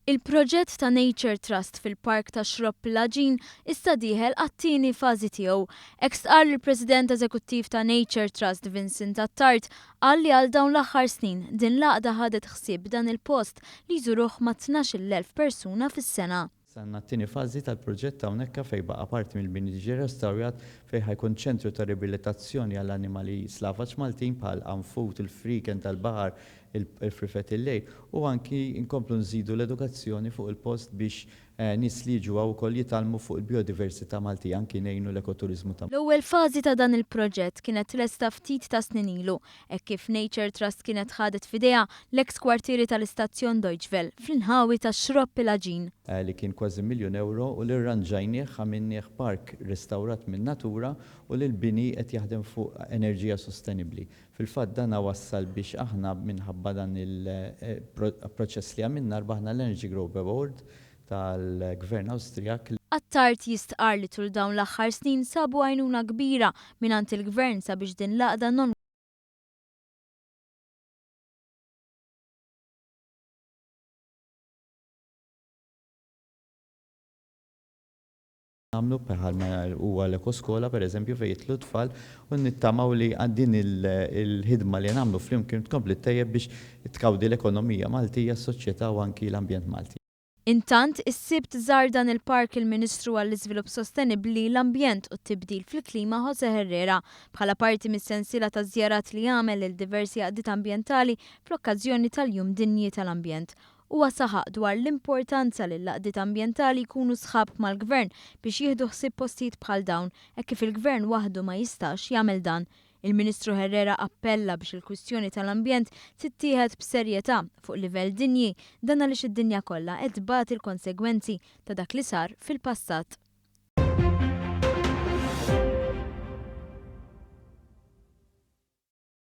Il-proġett ta' Nature Trust fil-Park tax-Xrobb Plaġin issa dieħel għat-tieni fażi tiegħu. Hekk stqarr il-President Eżekuttiv ta' Nature Trust Vincent Attard qal li għal dawn l-aħħar snin din l-għaqda ħadet ħsieb dan il-post li jżuruh ma' tnax-il elf persuna fis-sena. Saħanna t-tieni fażi tal-proġett hawnhekka fejn baqa' parti mill-bini tiġi restawrat fejn ħa jkun ċentru ta' ribilitazzjoni għall-annimali slavaġ Maltin bħal għanfud, il-frieken tal-baħar, il-frifet il-lejl u anki nkomplu nżidu l-edukazzjoni fuq il-post biex nies li jiġu hawn ukoll jitgħallmu fuq il-bijodiversità Maltija anki ngħinu l-ekoturiżmu ta' L-ewwel fażi ta' dan il-proġett kienet tlesta ftit ta' snin ilu Hekk kif Nature Trust kienet ħadet f'idejha l-eks kwartieri tal-istazzjon Deutsche Welle fl-inħawi tax-Xropp il-Għaġin. li kien kważi miljun ewro u li rranġajnieh, għamilnieh park restawrat minn Natura u li l-bini qed jaħdem fuq enerġija sostenibbli. Fil-fatt dan wassal biex aħna minħabba dan il-proċess li għamilna rbaħna l-Energy Growth Award tal-Gvern Awstrijak li. Attard jistqarr li tul dawn l-aħħar snin sabu għajnuna kbira mingħand il-Gvern sabiex din l-għaqda non. nagħmlu bħalma huwa l-ekoskola pereżempju fejn jidħlu t-tfal u nittamaw li din il-ħidma li nagħmlu flimkien tkompli ttejjeb biex tkawdi l-ekonomija Maltija, s-soċjetà u anki l-ambjent Malti. Intant, is-Sibt żar dan il-park il-Ministru għall-Iżvilupp Sostenibbli, l-Ambjent u t-Tibdil fil-Klima Jose Herrera, bħala parti mis-sensiela ta' żjarat li għamel lil diversi għaqdiet ambjentali fl-okkażjoni tal-Jum Dinji tal-Ambjent Huwa saħaq dwar l-importanza li l-għaqdiet ambjentali jkunu sħab mal-Gvern biex jieħdu ħsieb postijiet bħal dawn hekk kif il-Gvern waħdu ma jistax jagħmel dan. Il-Ministru Herrera appella biex il-kwistjoni tal-ambjent tittieħed b'serjetà fuq livell dinji dan għaliex id-dinja kollha qed tbati l-konsegwenzi ta' dak li sar fil-passat.